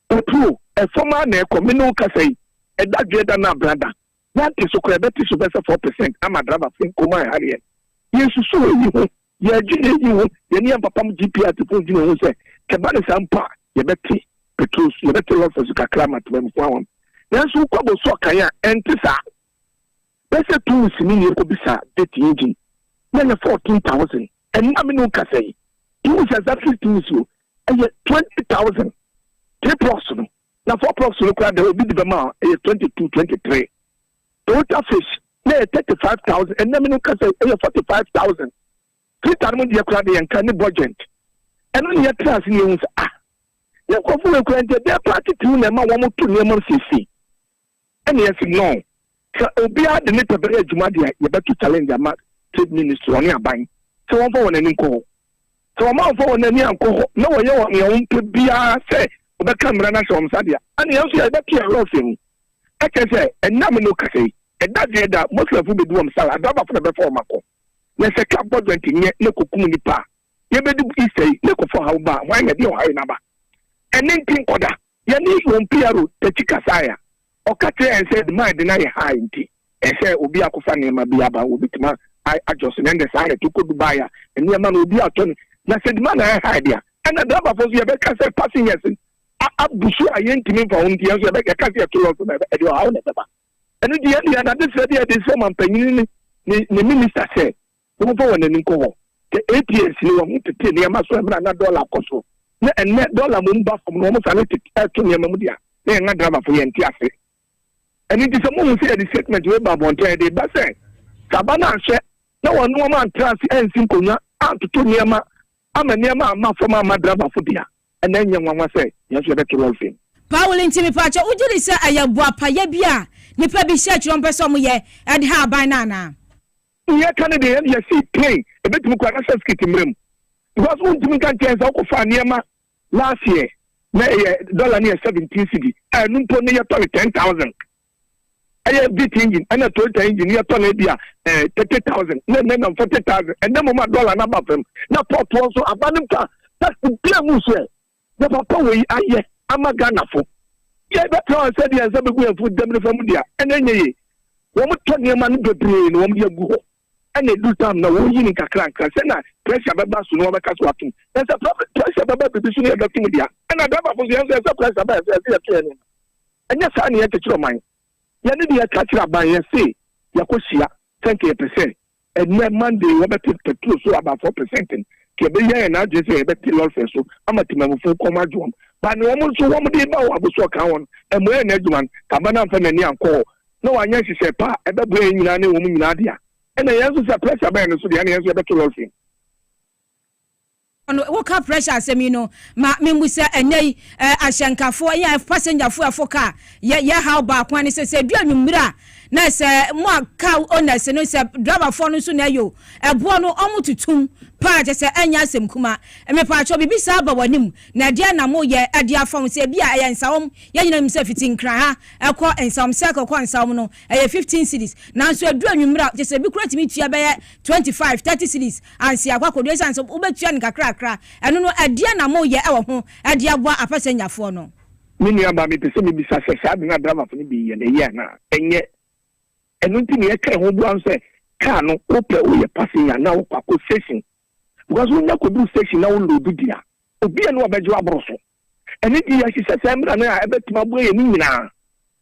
Otuo, ɛfam ara na ɛkɔ, me ne wo kasa yi, ɛda dwoɛ da na abena da, yɛante so koraa, ɛbɛte so bɛsɛ four percent ama driver fee, Nkomae Harriet. Yɛnsusu eyi ho, yɛredwene eyi ho, yɛne yɛn papam GP Artefo dwene ho sɛ ɛba no saa mpo a yɛbɛte petrol so, yɛbɛte lɔfɛ so kakra ama Temamufoɔ Awam. Nanso wokɔ Bosoɔ kan a ɛnte saa. Bɛsɛ tum sini yɛ kobisa date yɛ gyin na yɛ fourteen thousand ɛnna me no kasa yi tum sɛ za firi tum si o ɛyɛ twenty thousand three plugs no na four plugs no kora dɛ obi de bɛma a ɛyɛ twenty two twenty three Toyota fish na yɛ thirty five thousand ɛnna me no kasa yi ɛyɛ forty five thousand filter no mu deɛ kora de yɛn ka ne budget ɛno ne yɛ tra ase ne yɛ hu sɛ ah yɛ nkɔfo wɔ ekura nti ɛdɛ paati tiw na ɛma wɔn to nneɛma siesie Ɛna yɛse no sɛ obiara de ne pɛ bɛyɛ adwuma de a yɛbɛto challenge ama Trade Ministry, ɔne aban, sɛ wɔmfa wɔn ani nkɔ hɔ. Sɛ wɔn amfa wɔn ani ankɔ hɔ na wɔyɛ wɔn nea wɔpɛ biara sɛ wɔbɛka mmara no ahyɛ wɔn nsa de a, ɛna yɛn nso yɛbɛto yɛn werɛ afiri ho. Ɛkyerɛ sɛ ɛnnɛ a me ne wo kasa yi, ɛda deɛ ɛda, Muslimfo bedi wɔn sare, adrabafo na ɛbɛfa wɔn akɔ. Na sɛ car bɔ joint nyɛ na ɛkɔkum nnipa a, yɛbɛdu Easter yi na ɛkɔfa ɔhaw ba a, hwan na ɛde ɔhaw yi no aba? Ɛnne nti nkɔda. Yɛne João Piero Teti kasae a, ɔka kyerɛɛ yɛn sɛ dwuma a yɛde no ayɛ ha nti, ɛsɛ sɛ obi akɔfa nneɛma bi aba a wobetumi adjust no. Ɛnde saa na ɛte kɔ Dubai a, nneɛma no obi atɔ no, na sɛ dwuma no ayɛ hard a, ɛnna drɛbafo nso yɛbɛka sɛ passengers no abu so a yentumi mfa wɔn nti, yɛn nso yɛka sɛ yɛto lɔre so na ɛde ɔhaw na ɛbɛba. Ɛno nti, yɛn de, yɛn adesrɛ bi a yɛde resrɛ ɔmampanyin ne ne minista sɛ, Wɔmfa wɔn ani nkɔ hɔ. Sɛ ATS no, wɔn ho tete nneɛma so mmerɛ a na dɔla rekɔ soro, na ɛnnɛ dɔla mmom ba fam na wɔsane tete to nneɛma mu de a, na yɛn adravafo yɛnte ase. Ɛno nti sɛ mohu sɛ yɛde statement wei ba abɔnten a, yɛde reba sɛ, sɛ aba no anhwɛ na wɔne wɔn antra ase ansi nkonnwa antoto nneɛma ama nneɛma amma fam amma dravafo de a, ɛnna ɛnyɛ nwanwa sɛ yɛn nso yɛbɛto wɔn fam. Paul nti mepɛ akyɛ wogye di sɛ ɛyɛ boapayɛ bi a nnipa bi hyɛ kyerɛ wɔpɛ sɛ wɔyɛ de ha aban no anaa? Wo yɛ ka no deɛ yɛ yɛ see plane ɛbɛtumi kɔ anasɛ skit mmerɛ mu because wo ntumi nka nkyɛn sɛ wo kɔ faa nneɛma last year na ɛyɛ dollar no yɛ seventeen cedi a ɛno mpo no yɛ tɔ no ten thousand ɛyɛ vit engine ɛna toyota engine yɛ tɔ no ebi a ɛɛ thirty thousand na ɛnɛ nam forty thousand ɛnɛ mo ma dollar no aba fam na pɔtoɔ nso aba no mpa taxi bia mu nso ɛ. Deɛ papa wei ayɛ ama Ghana fo. Yɛ bɛ tra wɔn sɛ deɛ nsa bɛ gu yɛn fo dɛm no fa mu dea ɛna ɛnyɛ yie. Wɔn tɔ nneɛma no bebree na wɔn de agu hɔ ɛna ɛduru time no wɔn yi no nkakra nkra sɛ na pressure bɛ ba so no wɔn bɛ ka so atom. Na sɛ pressure bɛ ba biribi so no yɛ bɛ tom dea. Ɛna driver fo nso yɛn nso yɛ sɛ pressure ba yɛ so yɛ sɛ yɛ to yɛn nneɛma. Ɛnyɛ saa na yɛ kyekyere ɔman. Yɛn ne deɛ yɛ ka kyerɛ aban yɛ se yɛ kɔ hyia sɛ nka yɛ pɛ sɛ Ɛnnɛ, Monday, wɔbɛte pɛtro so aba four pɛsɛnten. Nti ɛbɛhia yɛn adwene sɛ yɛbɛte lɔrefɛ so ama temamufo kɔm adwo wɔn. Ba ne wɔn nso wɔn de ba wɔ abosoo ɔkaa wɔn ɛmmoa yɛn adwuma no. Taban amfa n'ani ankɔ hɔ na wanyɛ nhyehyɛe pa a ɛbɛboa yɛn nyinaa ne wɔn nyinaa de a, ɛnna yɛn nso sɛ pressure bɛyɛ no so deɛ ɛnna yɛn nso yɛbɛto lɔrefɛ mu. no wo ka pressure asɛm yi no ma me mmu sɛ ɛnɛ yi eh, ahyɛnkafoɔ yɛ pasengyafoɔ ɛfo ka yɛ yɛ haw baako ne sɛ sɛ edu anwummere a na sɛ mo a car owners no sɛ driverfoɔ no nso na ɛyɛ o ɛboɔ no ɔmo tutum paa kyɛ sɛ ɛnyɛ asɛm kuma mepaakyɛw bibi saa ba w'anim na ɛdeɛ na mo yɛ ɛde afa ho sɛ ebi a ɛyɛ nsawom yɛn nyina nim sɛ fiti nkran ha ɛkɔ nsawom sɛ ɛkɔ nsawom no ɛyɛ fifteen cities nanso edu anwummere a kyɛ sɛ ebi kura tumi tua bɛyɛ twenty five thirty cities ansi akɔ akɔdu esiane sɛ wobɛtua no kakrakra. Ɛno no, ɛdeɛn na moreyɛ wɔ ho de aboa apɛsɛnyafoɔ no? Me nua baa, mepɛ sɛ mebisa sɛ saa ade no a drivers no de yɛ no, ɛyɛ anaa? Ɛnyɛ. Ɛno nti nea ɛka ɛho boa no sɛ car no wopɛ woyɛ passenger anaa wokɔ akɔ station. Because wonya kɔduru station na wo load di a, obiara nni hɔ a ɔbɛgye wo aboro so. Ɛno nti, yɛhyehyɛ saa mmara no a ɛbɛtumi aboa yɛn no nyinaa.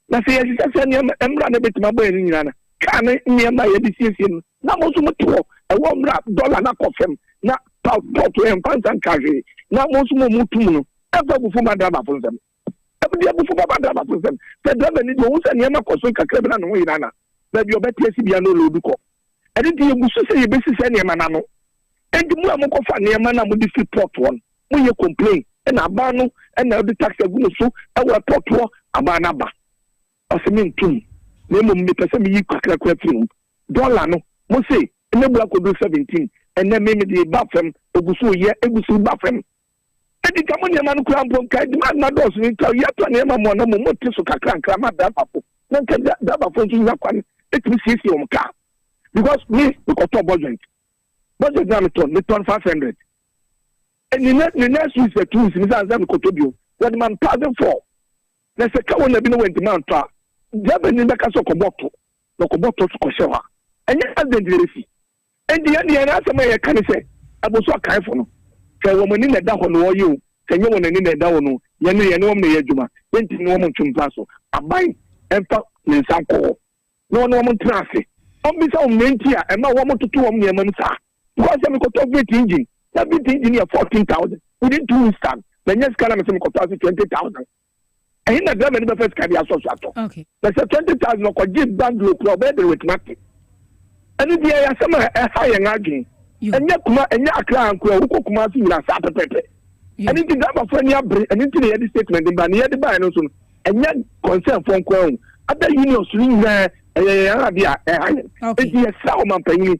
Na sɛ yɛhyehyɛ saa nneɛma mmara no a ɛbɛtumi aboa yɛn no nyinaa no, kaa ne nneɛma a yɛde siesie no na mo nso mote hɔ, ɛwɔ mmara a dɔla no akɔ fam, na paspɔɔto ɛmfa nsa nka hwee, na mo nso mo motu mu no ɛmfa abufuo mma drabafo nsam. Ɛde abufuo bɛba drabafo nsam. Sɛ draba no di, ɔhu sɛ nneɛma kɔ so nkakra bi na ne ho yera na baabi a ɔbɛte ase biara no ɔloodu kɔ. Ɛno nti, yɛgu so sɛ yɛbɛsi saa nneɛma no ano. Enti mo a mo kɔ fa nneɛma no a mo de si pot hɔ no, mo yɛ complain na aban no na ɔde tax agu mo so wɔ airport hɔ, aban no aba. Ɔse me nto mu, na mmom me pɛ sɛ me yi kakrakra firi ho. Dollar no, mo se na bu akɔduru 17, ɛnnɛ me me de reba fam, egu so reyɛ, egu so reba fam. Enti nka mo nneɛma no koraa mpo, nka demand no adɔɔso no, nka yɛatɔ nneɛma mo a na mmom mo te so kakra nkra ma driver fo, na nka driver fo nso nya kwan tumi siesie wɔn car, because me me kɔtɔɔ bɔ joint. Budget na me tɔn, me tɔn five hundred. Ɛni ne ne next week sɛ two weeks mi san sɛ me kɔtɔ bio. Wɔde ma me thousand four. Na sɛ ka wɔn na bi na wɔn ntoma ntɔ a, driver ni bɛka sɛ ɔkɔbɔ to na ɔkɔbɔ to kɔhyɛ hɔ a, ɛnyɛ accident na ɛbɛsi. Ɛnti yɛn de yɛn asɛm a yɛka ne sɛ ɛbo so akaefo no, sɛ wɔn ani na ɛda hɔ na wɔyɛ o, sɛ nyɛ wɔn ani na ɛda hɔ no, yɛn no yɛne wɔn na ɛyɛ adwuma. Yɛntumi ne wɔn nto mpa so. Aban ɛmfa ne nsa nkɔ hɔ. na ɔne wɔn ntena ase. Ɔmmisa wɔn nea nti a ɛma wɔtoto wɔn nneɛma mu saa. Mekɔe sɛ mekɔtɔ Vit engine. Ná Vit engine yɛ fourteen thousand. Within two weeks time, mannya sika na mese mekɔtɔ ase twenty thousand. Ɛhe na driver no bɛfa sika de asɔ so atɔ? Na sɛ twenty thousand a ɔkɔgyee bungalow kura a, ɔbɛyɛ dɛn watumi ate? Ɛno nti, ɛyɛ asɛm a ɛhaw yɛn adwene. Ɛnyɛ Kuma, ɛnyɛ Accra nko ɛ, wokɔ Kumasi nyinaa saa pɛpɛɛpɛ. ɛno nti driverfoɔ ani abere ɛno nti na yɛde statement de ba na yɛde baeɛ no nso no ɛnyɛ concern foɔ nko ara o ada unions no nyinaa ɛyɛ yɛn ade a ɛha yɛn nti yɛsrɛ ɔmampanyini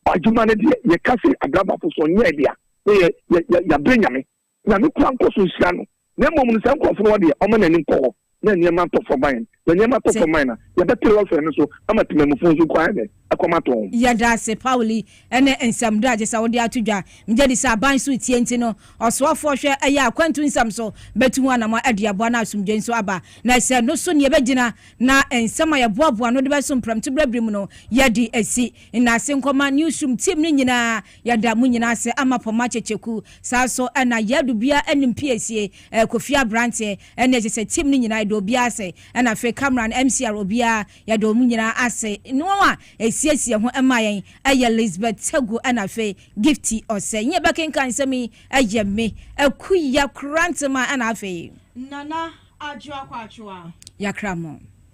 adwuma no deɛ yɛka sɛ adrabafo so nyɛ deɛ na yɛ yɛ yɛabrɛ nyame nyame kura nkɔ so nhyira no na mmom no saa nkurɔfo no wɔdeɛ ɔma n'anim kɔ hɔ na nneɛma atɔ fam ayɛ na nneɛma atɔ fam ayɛ na yɛbɛte lɔfɛn no so ama temamufo nso kwan dɛ ɛkɔm atɔ wɔn. Yɛda ase Paul yi ne nsɛm dɔ a gyesɛ wode ato dwa. Megye di sɛ aban so retie nti no ɔsoafoɔ hwɛ ɛyɛ a akwantu nsɛm so bɛtu ho anamɔ ɛde aboa na asomdwoe nso aba. Na ɛsɛ no so ne yɛbɛgyina na nsɛm a yɛboaboa ano de bɛsom prɛmto berɛ bere mu no yɛde asi. Nnaase nkɔma Newsroom team no nyinaa. Yɛda mo nyinaa ase ama Poma Kyekyeku. Saa nso na Yadu Bia anim piesie, Kofi Abranteɛ, Ɛna ɛsɛ sɛ team no nyinaa yɛda obiara ase, ɛna afei camera no, MCR, obiara yɛda wɔn nyinaa ase. Ne wɔn a ɛsiesie ho ma yɛn ɛyɛ Lisbeth Segu ɛna afei Gifty Osei. Nyɛ bɛkenkan nsɛm yi ɛyɛ me, Aku Yakrantema ɛna afei. Nana Adwoa Kwatwoa. Yakramo.